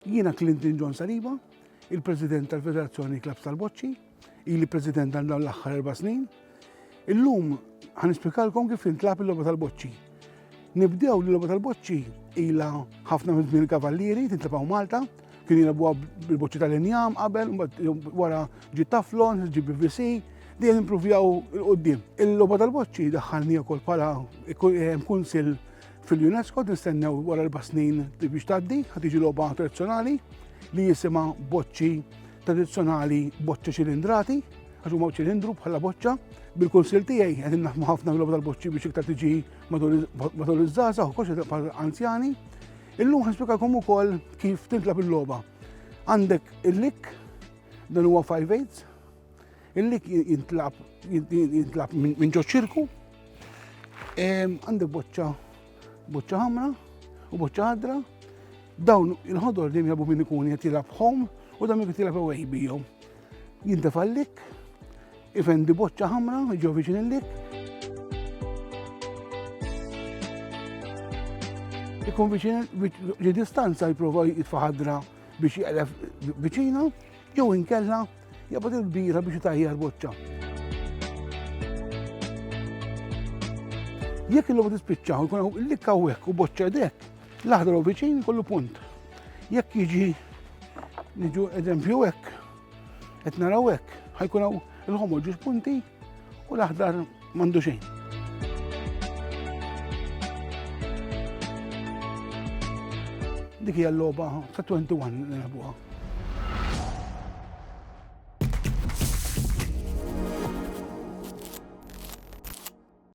Jiena Clinton John Saliba, il-President tal-Federazzjoni Klabbs tal-Boċċi, ili President għal dawn l-aħħar erba' snin. Illum ħa nispjegalkom kif tintlagħab il-logħba tal-boċċi. Nibdew li l-logħba tal-boċċi ilha ħafna minn żmien il-kavallieri tintlagħab Malta, kien jilagħbuha bil-boċċi tal-injam qabel, wara ġiet taflon, ġib BVC, dejjem impruvjaw il-qoddim. Il-logħba tal-boċċi daħħalni wkoll bħala kunsil Fil-UNESCO nistennew wara erba' snin biex tgħaddi ħad tiġi logħba tradizzjonali li jisimha boċċi tradizzjonali boċċa ċilindrati għax huma ċilindru bħala boċċa. Bil-kunsil tiegħi qed naħmu ħafna mill-logħba tal-boċċi biex iktar tiġi matul iż-żgħażagħ u koxxa bħal anzjani. Illum ħaspikakom ukoll kif tintlab il-logħba. Għandek il-lik dan huwa 5 8 Illi jintlab jintlab minn ġo ċirku għandek boċċa boċċa ħamra u boċċa ħadra dawn il-ħodor li jabu minn ikun qed jilgħab home u dan jgħid jilgħab away bijom. Jintefallik, ifendi boċċa ħamra ġo viċin il-lik. Ikun viċin li distanza jipprova jitfaħadra biex jgħalef viċina jew inkella Jabad il-kbira biex taħjar boċċa. Jekk il-lobu tispiċċa u jkun l-lik hawnhekk u boċċa dek, l-aħdar u viċin kollu punt. Jekk jiġi niġu eżempju hekk, qed naraw hekk, ħajkun hawn il-ħomor ġus punti U l-aħdar m'għandu xejn. Dik hija l-logħba ta' 21 li nilħbuha.